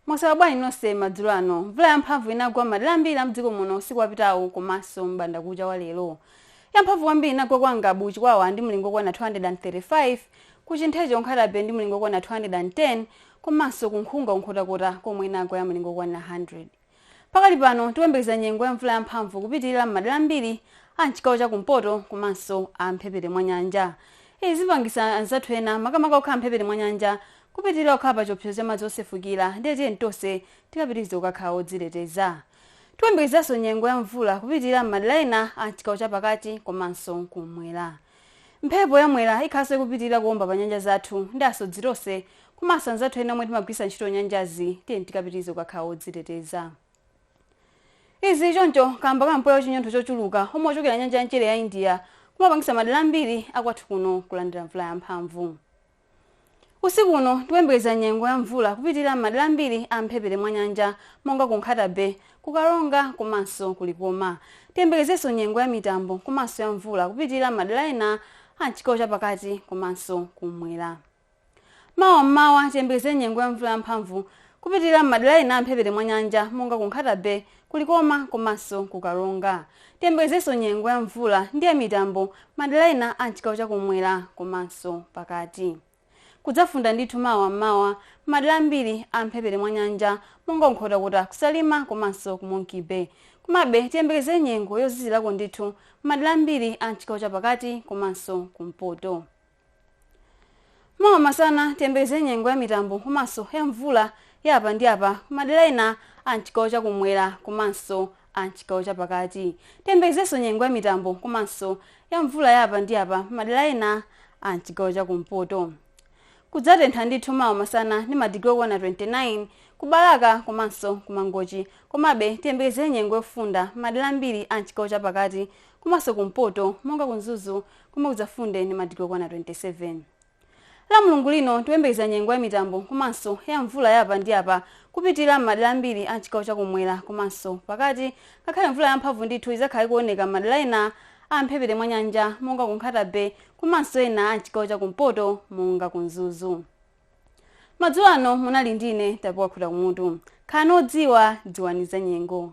mwaswera bwanji nonse madzulo ano mvula yamphamvu inagwa madera ambiri amdziko muno usiku wapitawu komanso m'bandakucha wa lero yamphamvu kwambiri inagwa kwa ngabu chikwawa ndi mlingo okwana 235 ku chintheche ku nkhata bay ndi mlingo okwana 210 komanso ku nkhunga ku nkhotakota komwe inagwa ya mlingo okwana 100 Pakali pano tikuyembekeza nyengo ya mvula yamphamvu kupitilira m'madera ambiri a m'chigawo cha kumpoto komanso a mphepete mwa nyanja. Izi zipangisa anzathu ena makamaka okhala mphepete mwa nyanja kupitilira kukhala pa chiopsezo cha madzi osefukira ndiye tiyeni tonse tikapitirize kukakhala odziteteza. Tikuyembekezeranso nyengo ya mvula kupitilira m'madera ena a m'chigawo chapakati komanso kum'mwera. Mphepo ya Mwera ikhalanso ikupitilira kuomba pa nyanja zathu ndi asodzi tonse komanso anzathu ena omwe timagwiritsa ntchito nyanjazi tiyeni tikapitirize kukakhala odziteteza. Izi zili choncho kamba ka mpweya wa chinyontho chochuluka omwe ochokera nyanja ya mchere ya India kumapangitsa madera ambiri a kwathu kuno kulandira mvula yamphamvu. Usiku uno tikuyembekeza nyengo ya mvula kupitilira m'madera ambiri a m'mphepete mwa nyanja monga ku Nkhata Bay, ku Karonga komanso ku Likoma. Tiyembekezenso nyengo ya mitambo komanso ya mvula kupitilira m'madera ena a m'chigawo cha pakati komanso kummwera. Mawa m'mawa tiyembekeze nyengo ya mvula yamphamvu kupitilira m'madera ena a m'mphepete mwa nyanja monga ku Nkhata Bay, ku Likoma komanso ku Karonga. Tiyembekezenso nyengo ya mvula ndi ya mitambo madera ena a m'chigawo cha kummwera komanso pakati. Kudzafunda ndithu mawa m'mawa m'madera ambiri a m'mphepete mwa nyanja monga ku Nkhotakota, ku Salima komanso ku Monkey Bay. Komabe tiyembekeze nyengo yozizirako ndithu m'madera ambiri a m'chigawo cha pakati komanso kumpoto. mawa masana tiyembekeze nyengo ya mitambo komanso ya mvula ya apa ndi apa kumadera ena a mchigawo chakumwera komanso a mchigawo chapakati tiyembekezenso nyengo ya mitambo komanso ya mvula ya apa ndi apa kumadera ena a mchigawo chakumpoto kudzatentha ndithu mawa masana ndi madigiri okwana 29 kubalaka komanso kumangochi komabe tiyembekezere nyengo yofunda madera ambiri a mchigawo chapakati komanso kumpoto monga ku mzuzu komwe kudzafunde ndi madigiri okwana 27 la mulungu lino tikuyembekeza nyengo ya mitambo komanso ya mvula ya apa ndi apa kupitilira m'madera ambiri a mchigawo chakumwera komanso pakati ngakhale mvula yamphamvu ndithu idzakhala ikuoneka m'madera ena a mphepete mwa nyanja monga ku nkhata bay komanso ena a mchigawo chakumpoto monga ku mzuzu madzulo ano munali ndine tapiwa khutakumutu khalani odziwa dziwani za nyengo